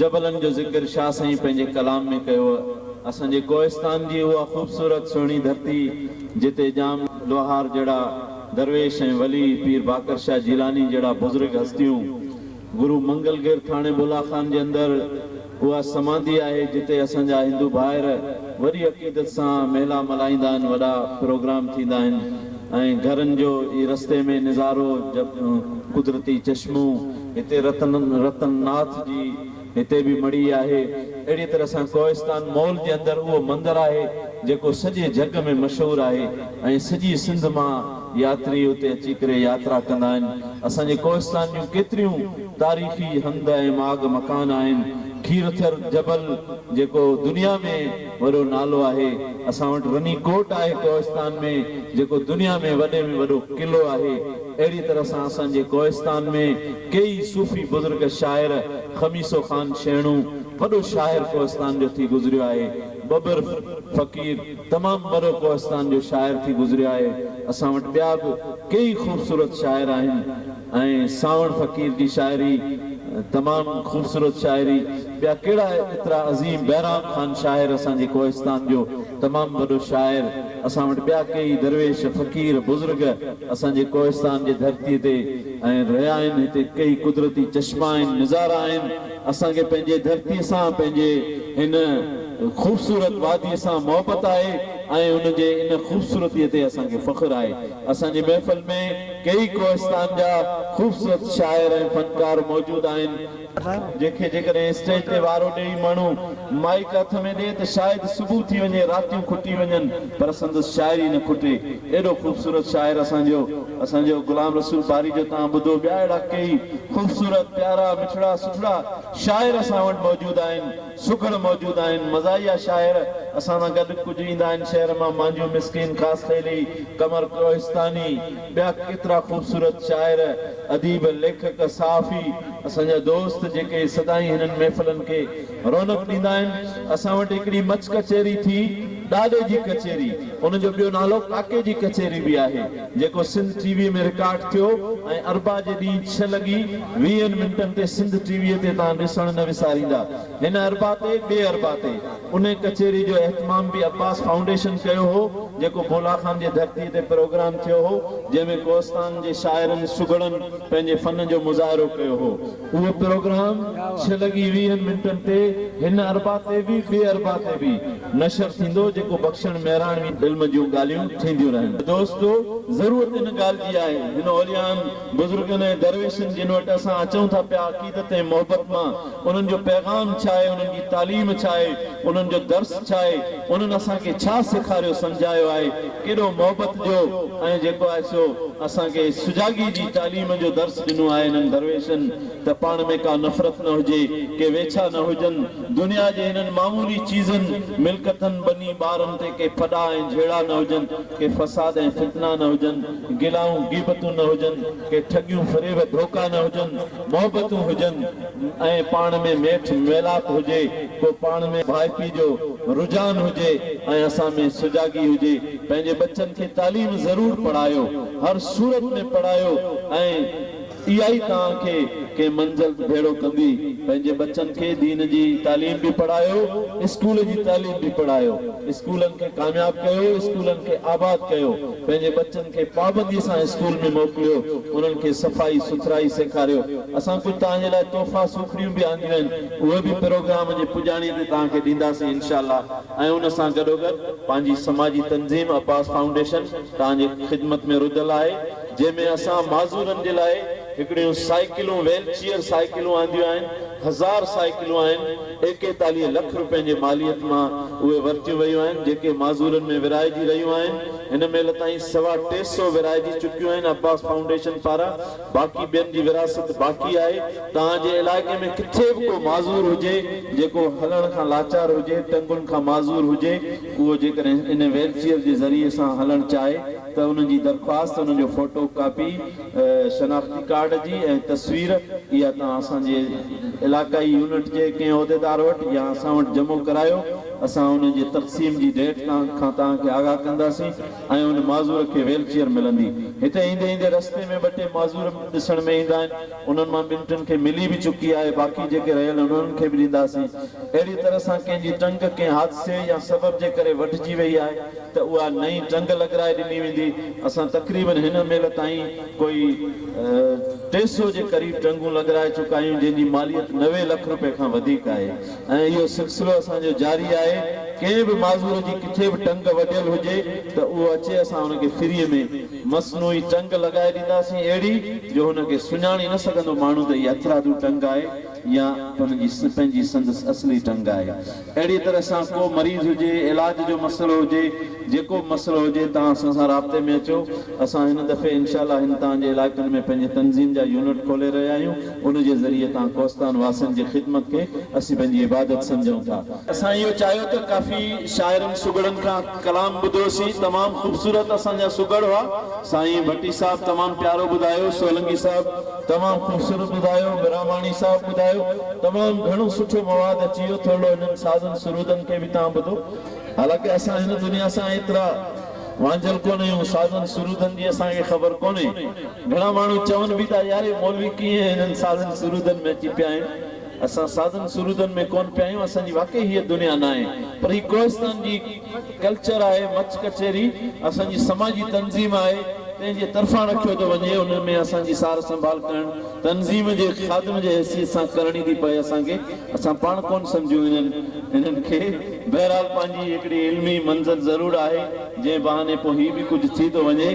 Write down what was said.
جبلن جو ذڪر شاهه سائين پنهنجي ڪلام ۾ ڪيو اسان جي ڪوهستان جي اها خوبصورت سهڻي ڌرتي جتي ڄام لوهار جهڙا درويش ۽ ولي پير باقر شاهه جيلاني جهڙا بزرگ هستيون گرو منگل گير ٿاڻي بولا خان جي اندر اها سمانڌي آهي جتي اسان جا هندو ڀائر وڏي عقيدت سان ميلا ملهائيندا آهن وڏا پروگرام ٿيندا آهن ۽ گهرن جو ئي رستي ۾ نظارو قدرتي چشمون هتي رتن رتن ناٿ جي هتي به مڙئي آهي. اهڙيء طرح سان ڪوهستان مول جي اندر اهو مندر آهي، جيڪو سڄي جڳ ۾ مشهور آهي ۽ سڄي سنڌ مان ياتري اتي اچي ڪري ياترا ڪندا آهن. اسان جي ڪوهستان جون ڪيتريون تاريخي هنڌ ۽ ماڳ مڪان آهن. کيرٿر جبل جيڪو دنيا ۾ وڏو نالو آهي اسان وٽ رني ڪوٽ آهي ڪوهستان ۾ جيڪو دنيا ۾ وڏي ۾ وڏو قلعو آهي اهڙي طرح سان اسان جي ڪوهستان ۾ ڪيئي صوفي بزرگ شاعر خميسو خان شيڻو وڏو شاعر ڪوهستان جو ٿي گذريو آهي ٻٻر فقير تمام وڏو ڪوهستان جو شاعر ٿي گذريو آهي اسان وٽ ٻيا به ڪيئي خوبصورت شاعر آهن. ۽ سانوڻ فقير جي شاعري تمام خوبصورت شاعري ٻيا ڪهڙا ايترا عظيم بهرام خان شاعر اسان جي ڪوهستان جو تمام وڏو شاعر اسان وٽ ٻيا ڪيئي درويش فقير بزرگ اسان جي ڪوهستان جي ڌرتي تي ۽ رهيا آهن هتي ڪيئي قدرتي چشما آهن نظارا آهن اسان کي پنهنجي ڌرتي سان پنهنجي هن خوبصورت وادي سان محبت آهي ۽ ان جي ان خوبصورتي تي اسان کي فخر آهي. اسان جي محفل ۾ ڪيئي ڪوهستان جا خوبصورت شاعر ۽ فنڪار موجود آهن، جن کي جيڪڏهن اسٽيج تي وارو ڏيئي ماڻهو مائيڪ هٿ ۾ ڏي ته شايد صبح ٿي وڃي راتيون کٽي وڃن پر سندس شاعري نه کٽي ايڏو خوبصورت شاعر اسان جو اسان جو غلام رسول باري جو توهان ٻڌو ٻيا اهڙا ڪيئي خوبصورت پيارا مٺڙا سٺڙا شاعر اسان وٽ موجود آهن سگهڙ موجود آهن. مزاحيه شاعر اسان سان گڏ ڪجهه ايندا آهن شهر مان مانجهيو مسڪين خاصخيلي، قمر ڪوهستاني، ٻيا ڪيترا خوبصورت شاعر، اديب، ليکڪ، صحافي اسان جا دوست جيڪي سدائين هنن محفلن کي رونق ڏيندا آهن. اسان وٽ هڪڙي مڇ ڪچهري ٿي ڏاڏي جي ڪچهري ان جو ٻيو نالو ڪاڪي جي ڪچهري به آهي. جيڪو سنڌ ٽي وي ۾ رڪارڊ ٿيو ۽ اربع جي ڏينهن ڇهه لڳي ويهن منٽن تي سنڌ ٽي وي تي توهان ڏسڻ نه وساريندا هن اربع تي ٻئي اربع تي انهي ڪچهري جو اهتمام به عباس فائونڊيشن ڪيو هو جيڪو بولا خان جي ڌرتي تي پروگرام ٿيو هو جنهن ۾ ڪوهستان جي شاعرن سگهڙن پنهنجي فن جو مظاهرو ڪيو هو اهو پروگرام ڇهه لڳي ويهن منٽن تي هن اربع تي به ٻئي اربع تي به نشر ٿيندو جيڪو بخشڻ مهراڻوي علم جون ڳالهيون ٿينديون رهن. دوستو ضرورت ان ڳالهه جي آهي هن اوليائن، بزرگن ۽ درويشن جن وٽ اسان اچون ٿا پيا عقيدت ۽ محبت مان انهن جو پيغام ڇا آهي انهن جي تعليم ڇا آهي انهن جو درس ڇا آهي انهن اسان کي ڇا سيکاريو سمجهايو آهي ڪيڏو محبت جو ۽ جيڪو آهي سو اسان کي سجاڳي جي تعليم جو درس ڏنو آهي انهن درويشن ته پاڻ ۾ ڪا نفرت نه هجي، ڪي ويڇا نه هجن، دنيا جي هنن معمولي چيزن، ملڪتن، ٻني ٻارن تي ڪي ڦڏا ۽ جهيڙا نه هجن، ڪي فساد ۽ فتنا نه هجن، گلائون غيبتون نه هجن، ڪي ٺڳيون فريب ڌوڪا نه هجن، محبتون هجن. ۽ پاڻ ۾ ميٺ ميلاپ هجي، ڪو پاڻ ۾ ڀائپي جو رجحان هجي ۽ اسان ۾ سجاڳي هجي. پنهنجي ٻچن کي تعليم ضرور پڙهايو، هر صورت ۾ پڙهايو ۽ اها ئي توهان کي ڪنهن منزل ڀيڙو ڪندي. پنهنجي ٻچن کي دين جي تعليم به پڙهايو، اسڪول جي تعليم به پڙهايو. اسڪولن کي ڪامياب ڪيو، اسڪولن کي آباد ڪيو. پنهنجي ٻچن کي پابندي سان اسڪول ۾ موڪليو، انهن کي صفائي سٿرائي سيکاريو. اسان ڪجهه توهان جي لاء تحفا سوکڙيون به آنديون آهن، اهي به پروگرام جي پڄاڻي تي توهان کي ڏينداسين انشاء الله ۽ ان سان گڏوگڏ پنهنجي سماجي تنظيم عباس فائونڊيشن توهان جي خدمت ۾ رڌل آهي، جنهن ۾ اسان معذورن جي لاء هڪڙيون سائيڪلون ويل چيئر سائيڪلون آنديون آهن، هزار سائيڪلون آهن. ايڪيتاليهه لک روپين جي ماليت مان اهي ورتيون ويون آهن، جيڪي معذورن ۾ ورهائجي رهيون آهن، هن مهل تائين سوا ٽي سؤ ورهائجي چڪيون آهن، عباس فائونڊيشن پاران باقي ٻين جي ورهاست باقي آهي، توهان جي علائقي ۾ ڪٿي به ڪو معذور هجي، جيڪو هلڻ کان لاچار هجي، ٽنگن کان معذور هجي، اهو جيڪڏهن ان ويلچيئر جي ذريعي سان هلڻ چاهي ته انهن جي درخواست، انهن جو فوٽو ڪاپي. شناختي ڪارڊ جي ۽ تصوير اها توهان اسان جي علاقائي يونٽ جي ڪنهن عهديدار وٽ يا اسان وٽ جمع ڪرايو اسان ان جي تقسيم جي ڊيٽ تان کان توهان کي آگاهه ڪنداسين ۽ ان معذور کي ويل چيئر ملندي هتي ايندي ايندي رستي ۾ ٻه ٽي معذور ڏسڻ ۾ ايندا آهن انهن مان ٻن ٽن کي ملي به چڪي آهي باقي جيڪي رهيل آهن انهن کي به ڏينداسين اهڙي طرح سان ڪنهن جي ٽنگ ڪنهن حادثي يا سبب جي ڪري وڍجي وئي آهي ته اها نئين ٽنگ لڳرائي ڏني ويندي، اسان تقريبن هن مهل تائين ڪوئي ٽي سئو جي قريب ٽنگون لڳرائي چڪا آهيون جنهن جي ماليت نوي لک روپيه کان وڌيڪ آهي ۽ اهو سلسلو اسان جو جاري آهي ڪنهن به معذور جي ڪٿي به ٽنگ وڍيل هجي ته اهو اچي اسان هن کي فري ۾ مصنوعي ٽنگ لڳائي ڏينداسين اهڙي جو هن کي سڃاڻي نه سگهندو ماڻهو ته هي هٿرادو ٽنگ آهي يا پنهنجي سندس اصلي ٽنگ آهي. اهڙيء طرح سان ڪو مريض هجي، علاج جو مسئلو هجي، جيڪو به مسئلو هجي توهان اسان سان رابطي ۾ اچو. اسان هن دفعي انشاء الله هن توهان جي علائقن ۾ پنهنجي تنظيم جا يونٽ کولي رهيا آهيون، ان جي ذريعي توهان ڪوهستان واسين جي خدمت کي اسين پنهنجي عبادت سمجهون ٿا. اسان اهو چاهيو ته ڪافي شاعرن سگهڙن کان ڪلام ٻڌوسين، تمام خوبصورت اسان جا سگهڙ هئا، سائين ڀٽي صاحب تمام پيارو ٻڌايو، سولنگي صاحب، تمام خوبصورت ٻڌايو مھراماڻي صاحب ٻڌايو تمام گھڻو سٺو مواد اچي ويو ٿورڙو انھن سازن سرودن کي به تھان ٻڌو حالانڪه اسان ھن دنيا سان ايترا وانجھيل ڪونه اھيون سازن سرودن جي اسان کي خبر ڪونه گھڻا ماڻھو چون به ٿا يار اھي مولوي ڪيئن ھنن سازن سرودن ۾ اچي پيا آھن اسان سازن سرودن ۾ ڪون پيا آھيون اسان جي واقعي ھيء دنيا ناھي پر ھي ڪوھستان جي ڪلچر آهي، مچ ڪچهري اسان جي سماجي تنظيم آهي، تنهن جي طرفان رکيو ٿو وڃي، ان ۾ اسان جي سار سنڀال ڪرڻ تنظيم جي خادم جي حيثيت سان ڪرڻي ٿي پئي اسان کي، اسان پاڻ ڪونه سمجهون انهن انهن کي، بهرحال پنهنجي هڪڙي علمي منزل ضرور آهي، جنهن بهاني پوء هي به ڪجهه ٿي ٿو وڃي.